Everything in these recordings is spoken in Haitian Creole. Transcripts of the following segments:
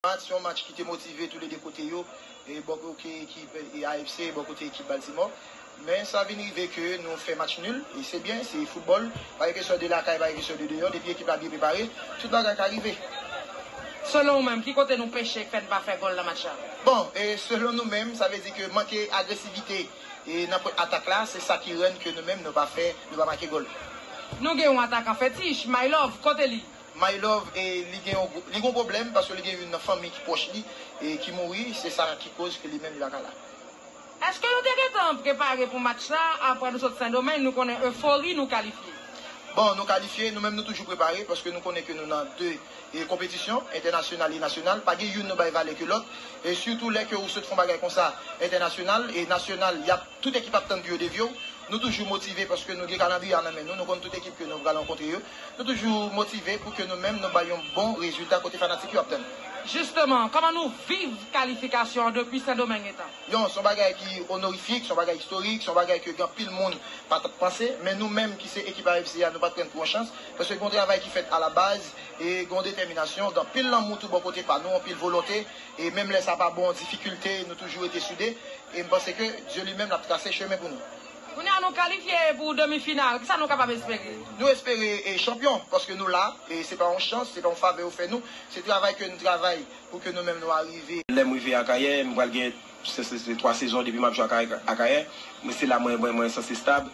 Match yon match ki te motive tou le 2 kote yo, bò koke ekip AFC bò kote ekip Baltimore. Men sa vin rive ke nou fè match nul, e se byen, se football, pa gen kesyon de lakay, pa gen kesyon de deyò, depi ekip la byen prepare, tout bagay ka rive. Selon ou menm, ki kote nou peche k fè n pa fè gòl nan match la? Bon, selon nou menm, sa vle di ke manke agresivite nan pwen atak la, se sa ki rann ke nou menm nou pa fè, nou pa make gòl. Nou gen yon atakan fetich, Mailove, kote li? My love e li gen yon li gen yon problèm paske li gen youn nan fanmi ki pwòch li e ki mouri se sa ki koz ke li menm li pa ka la. Eske nou te gentan prepare pou match sa apre nou sot Sendomeng nou konnen eufori nou kalifye? Bon nou kalifye, nou menm nou toujou prepare paske nou konnen ke nou nan 2 e konpetisyon, entènasyonal e nasyonal, pa gen youn nou bay valè ke lòt e sitou lè ke ou sot fon bagay konsa entènasyonal e nasyonal yap tout ekip ap tann pou yo devye w, Nou toujou motive paske nou gen kalandriye a nan men nou, nou konn tout ekip ke nou pral rankontre yo. Nou toujou motive pou ke nou menm nou bay yon bon rezilta kote fanatik yo ap tann. Jisteman, kòman nou viv kalifikasyon an depi Sendomeng etan? Yon, son bagay ki onorifik, son bagay istorik, son bagay ke gen anpil moun pa tap panse. Men nou menm ki se ekip AFC a nou pat pran l pou yon chans. Paske gen yon travay ki fèt a la baz e gen yon detèminasyon, gen anpil lanmou tou bò kote pa nou, anpil volonte. E menm lè sa pa bon difikilte nou toujou rete soude e m panse ke Dye li menm l ap trase chemen pou nou. Kounye a nou kalifye pou demi final, kisa nou kapab espere? Nou espere chanpyon paske nou la e se pa yon chans, se pa yon favè yo fè nou, se travay ke nou travay pou ke nou menm nou arive. Lè m rive Akayè, m pral gen 3 sezon depi m ap jwe Akayè, se la mwen sanse stab.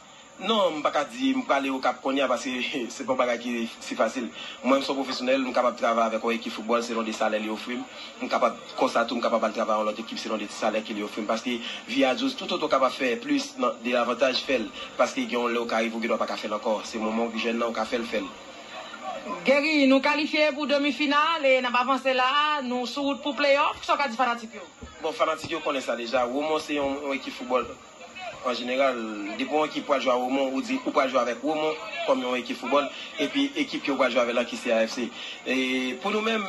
Non, m pa ka di m prale Okap kounye a paske se pa yon bagay ki si fasil. Mwen m se yon pwofesyonèl, m kapab travay avèk yon ekip foutbòl selon de salè li ofri m. M kapab, konsa tou m kapab al travay yon lòt ekip selon de salè ke li ofri m paske vi a dous. Toutotan w kapab fè plis nan de avantaj, fè l paske gen yon lè ou ka rive ou gendwa pa ka fè l ankò. Se moman w jèn nan ou ka fè l, fè l. Guerry, nou kalifye pou demi final e n ap avanse la a, nou sou wout pou playoff, kisa w ka di fanatik yo? Bon, fanatik yo konnen sa deja, Romon se yon ekip foutbòl. An jeneral, depi yon ekip pral jwe a Romon, ou di ou pral jwe avèk Romon kòm yon ekip foutbòl, epi ekip ke ou pral jwe avè l lan ki CAFC. Pou nou menm,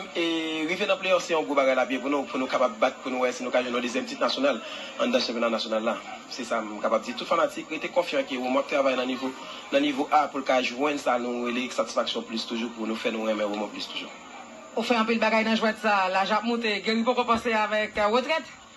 rive nan pleyòf se yon gwo bagay l ap ye pou nou, pou nou kapab bat, pou nou wè si nou ka jwenn yon dezyèm tit nasyonal anndan chanpyona nasyonal la. Se sa m kapab di. Tout fanatik rete konfyan ke Romon ap travay nan nivo, nan nivo a pou l ka jwenn sa nou rele satisfaksyon plis toujou pou nou fè nou renmen Romon plis toujou. Ou fè anpil bagay nan jwèt sa. Laj ap moute. Guerry poko panse avèk retrèt?